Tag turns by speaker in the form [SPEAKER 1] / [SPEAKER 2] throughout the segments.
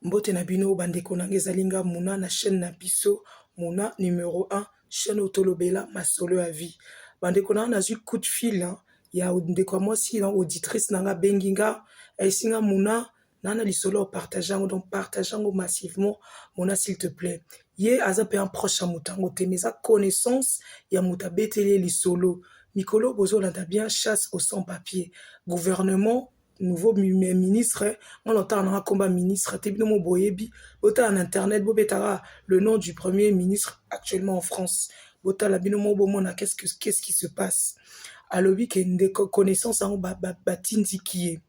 [SPEAKER 1] Mbote na bino ba ndeko na nga, ezali nga Muna na chaîne na biso Muna numero 1 chaîne oyo tolobela masolo ya vie. Ba ndeko na nga nazwi coup de fil ya ndeko ya mwasi na auditrice na nga bengi nga ayesi nga Muna na na lisolo ya partage yango donc partage yango massivement Muna s'il te plaît. Ye aza mpe un proche ya moto yango te mais eza connaissance ya moto abeteli ye lisolo mikolo bozolanda bien chasse au sans papier gouvernement nouveau ministre nga na otala nanga komba ministre te bino mo boyebi botala na internet bobetaka le nom du premier ministre actuellement en france botala bino mo bomona qu'est-ce que qu'est-ce qui se passe alobi ke nde connaissance yango batindiki ye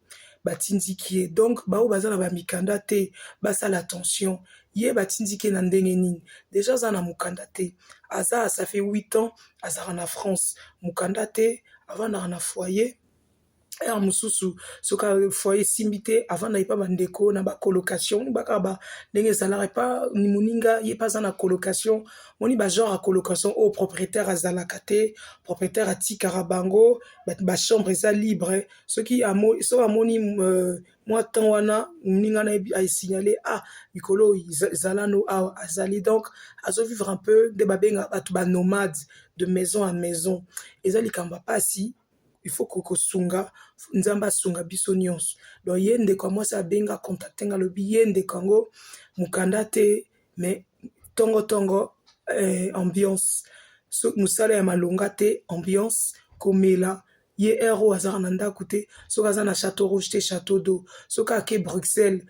[SPEAKER 1] batindiki ye donc baoyo baza na bamikanda te basala attention ye batindiki ye na ndenge nini deja aza na mokanda te aza asafe 8 ans azalaka na france mokanda te avandaka na foyer heure mosusu soki foye esimbi te avanda epa bandeko na bacolocation bakaka ba ndenge ezalaka epa moninga ye mpe aza na colocation moni bagenre ya colocation oyo propriétaire azalaka te propriétaire atikaka bango bachambre eza libre soki soki amoni euh, mwa temps wana moninga na asignale a ah, mikolo oyo ezalano awa azali donc azovivre un peu nde babengaka bato banomade de maison à maison eza likambo ya mpasi il faut kosunga nzambe asunga biso nyonso donc ye ndeko ya mwasi abenga contacte nga alobi ye ndeko yango mokanda te mais tongo tongo eh, ambiance so, mosala ya malonga te ambiance komela ye ero azaka na ndako te soki aza na chateau rouge te chateau d'eau soki ake bruxelles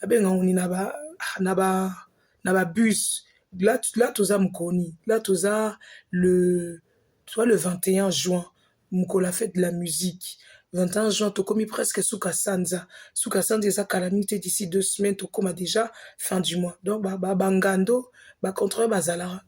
[SPEAKER 1] babenga nguni na ba na ba na ba bus là, là toza mokoni là toza le soit le 21 juin mokolo ya fete de la musique 21 juin tokomi presque suka sanza suka sanza eza kala mingi te d'ici deux semaines tokoma déjà fin du mois donc ba, ba, bangando bacontrole bazalaka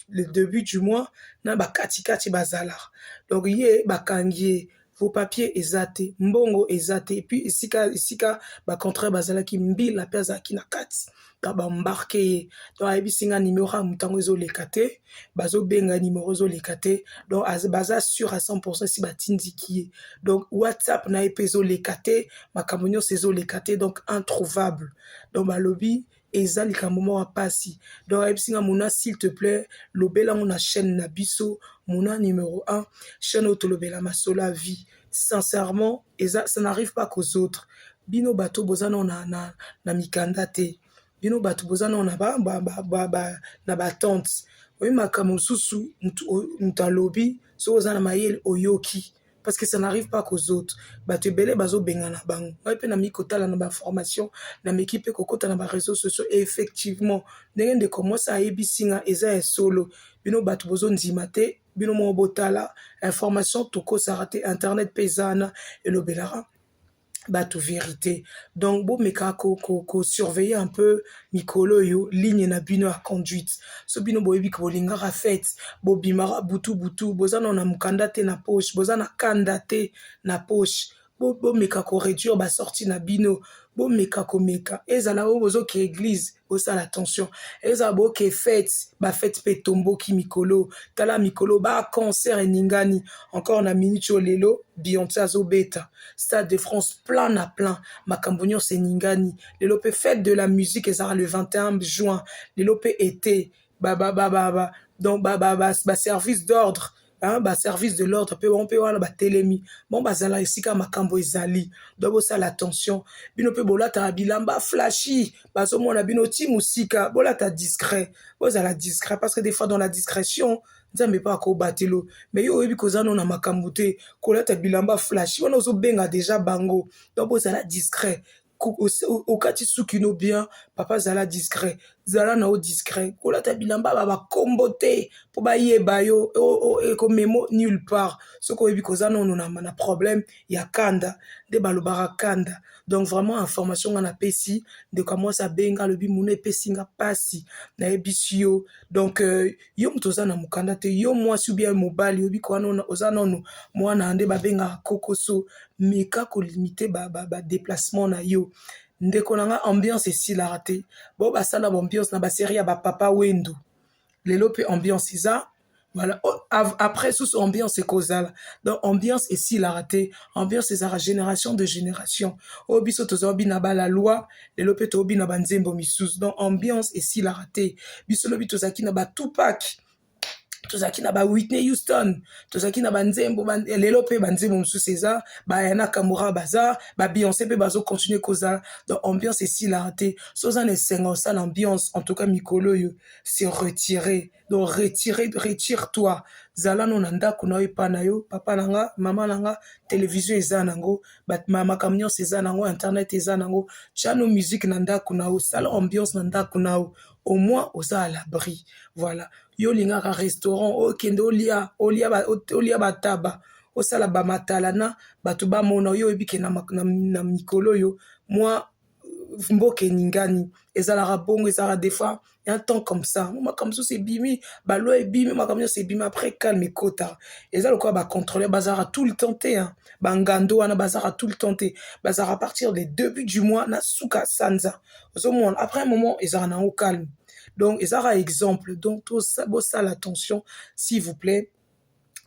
[SPEAKER 1] le début du mois na bakatikati bazalaka donc ye bakangi ye Vos papiers eza te, mbongo eza te, puis esika esika ba contrats bazalaki mbila pe azalaki na kati ka ba embarquer ye donc ayebisi nga numero ya moto yango ezoleka te, bazobenga numero ezoleka te donc baza sur à 100% esi batindiki ye donc whatsapp na ye pe ezoleka te makambo nyonso ezoleka te donc introuvable donc balobi eza likambo moko ya pasi donc ayebisi nga mona s'il te plait lobela ngo na chaîne na biso mona numero 1 chaîne oyo tolobela masolo ya vie sincèrement eza ça n'arrive pas qu'aux autres bino bato boza nao na, na, na mikanda te bino bato boza nao na ba, ba, ba, ba, ba, na batente oyebi makambo mosusu moto alobi soki oza na mayele oyoki parce que ça n'arrive pas qu'aux autres bato ebele bazobengana bango ngai mpe namiki kotala na baformation nameki mpe kokota na bareseau sociaux et effectivement ndenge ndeko mwasi ayebisi nga eza ya solo bino bato bozondima te bino moko botala information tokosaka te internet mpe eza wana elobelaka bato verite donc bomeka ko, ko, ko surveiller un peu mikolo oyo ligne na bino ya conduite so bino boyebi ke bolingaka fete bobimaka butu butu boza nao na mokanda te na poche boza na kanda te na poche bomeka ko réduire ba sortie na bino bomeka komeka ezala oyo bozokea eglise bosala attention ezala boke fete bafete mpe etomboki mikolo tala mikolo baconcert eningani encore na minute oyo lelo bionce azobeta stade de france plein na plein makambo nyonso eningani lelo mpe fete de la musique ezala le 21 juin lelo mpe ete donc baservice d'ordre ba, ba, ba, ba, ba, ba, ba, ba, ba, ba, ba, ba, ba, ba, ba, ba service de l'ordre pe bango pe wana ba telemi bango bazala esika makambu ezali donc bosala attention bino pe bolataka bilamba flashy bazomona bino ti musika bolata discret bozala discret parce que de fois dans la discretion nzambe pe akobatela yo mais yo oyebi koza nanu na makambu te kolata bilamba flashy wana ozo benga dejà bango donc bozala discret okati suki no bien papa zala discret zala na yo discret kolata bilamba ba bakombo te mpo bayeba yo ekomemo nulle part soki oyebi koza nono na, na problème ya kanda nde balobaka kanda donc vraiment information nga napesi ndeko ya mwasi abenga alobi muna epesi nga mpasi nayebisi yo donc euh, yo moto oza na mokanda te yo mwasi ubia mobali oyebi ko wana oza nono mwana nde babengaka kokoso meka kolimite badeplacement ba, ba na yo ndeko na nga ambiance esilaka te bao basala baambiance na baserie ya bapapa wendo lelo mpe ambiance eza voilà oh, après susu ambiance ekozala donc ambiance esilaka te ambiance ezalaka génération de génération oyo biso tozwa bina bala loi lelo pe tobina ba nzembo misusu donc ambiance esilaka te biso lobi tozalaki na ba tupac tozalaki na ba whitney houston tozalaki na banzembo ba, lelo pe banzembo mosusu eza bayana kamora baza babionce pe bazocontinue kozala donc ambiance esilaka te so oza na esengo osala ambiance en tout cas mikolo oyo se retire Donc retire, retire toi. Zala no na ndako na yo epa na yo, papa na nga, mama na nga, television eza na ngo, ba makambo nyonso eza na ngo, internet eza na ngo. Tia no musique na ndako na yo, sala ambiance na ndako na yo. Au moins oza à l'abri. Voilà. Yo lingaka restaurant, okende olia, olia ba olia ba taba, osala ba matalana, bato ba mona yo oyebi ke na na mikolo yo mwa mboka eningani ezalaka bongo ezalaka defois ya temps comme ça mo makambo mosusu ebimi baloi ebimi makambo nyonso ebimi après calme ekota eza lokola bacontrôleur bazalaka tout le temps te bangando wana bazalaka tout le temps te bazalaka partir de début du mois na suka sanza ozomona après un moment ezalaka nango calme donc ezalaka exemple donc bosala attention s'il vous plaît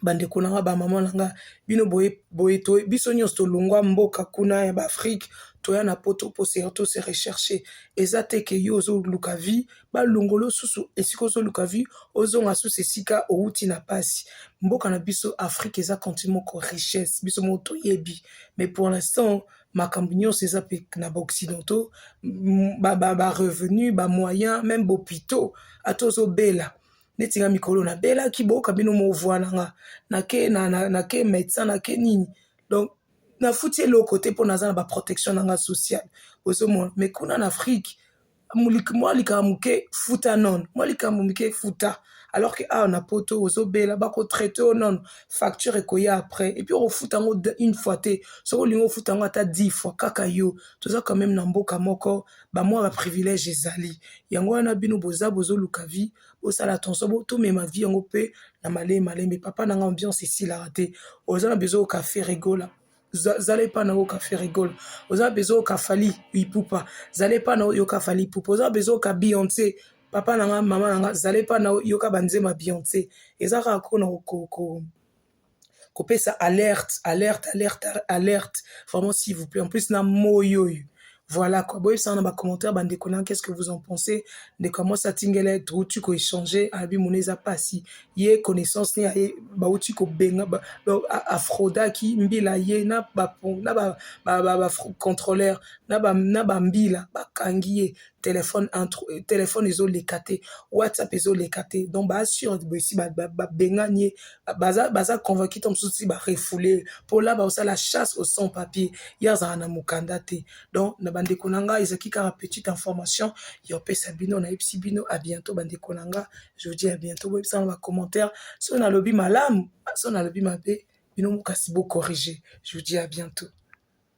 [SPEAKER 1] bandeko na nga bamama na nga bino boye to biso nyonso tolongwa mboka kuna ya baafrike toya na poto po surtout se recherche eza te ke yo ozoluka vie balongolo susu esika ozoluka vie ozonga susu esika owuti na pasi mboka na biso afrike eza contine moko richesse biso moko toyebi mais pour l'instant makambo nyonso eza mpe na baoccidentaux barevenu bamoyen meme bopito ata ozobela neti nga mikolo na belaki boyoka bino movua na nga nake na, na, na ke médecin nake nini donc nafuti eloko te mpo naza na baprotection na nga sociale ozomona mais kuna na afrique mwa likambo moke futa nono mwa likambo moke futa alors que awa na poto ozobela bakotraite yo nono facture ekoya après epuis okofuta yango une fois te soki olingi ofuta yango ata 10 fois kaka yo toza quand même na mboka moko ba mwa ba privilège ezali yango wana bino boza bozoluka vie bosala attention bo tomema vie yango mpe na malembe malembe papa na nga ambiance esilaka te oza na besoin oka ferigola zala epa na oka ferigola oza na besoin oka fali ipupa zala epa na oyoka fali ipupa oza na besoin oka beyonce papa na nga mama na nga zala epa na oyoka banzema beyonce eza kaka kona okoko kopesa alerte alerte alerte alerte vraiment s'il vous plaît en plus na moyi oyo voilà quoi boyebisana na bacommentaire bandeko na qu'est ce que vous en pensez ndeko ya mwasi atingela ye touti koechange abi mona eza mpasi ye connaissance ne ye bauti kobenga afrodaki mbila ye na bacontrôleur na bambila bakangi ye Telephone entre telephone ezo leka te WhatsApp ezo leka te donc ba sur besi ba bengani ye baza baza convaincu to mosusu ti ba refouler po là ba osala chasse au sans papier ye azala na mukanda te donc na ba ndeko na nga ezalaki kaka petite information ya opesa bino na yebisi bino à bientôt ba ndeko na nga je vous dis à bientôt bo yebisa na ba commentaire so na lobi malamu so na lobi mabe bino kasi bo corriger je vous dis à bientôt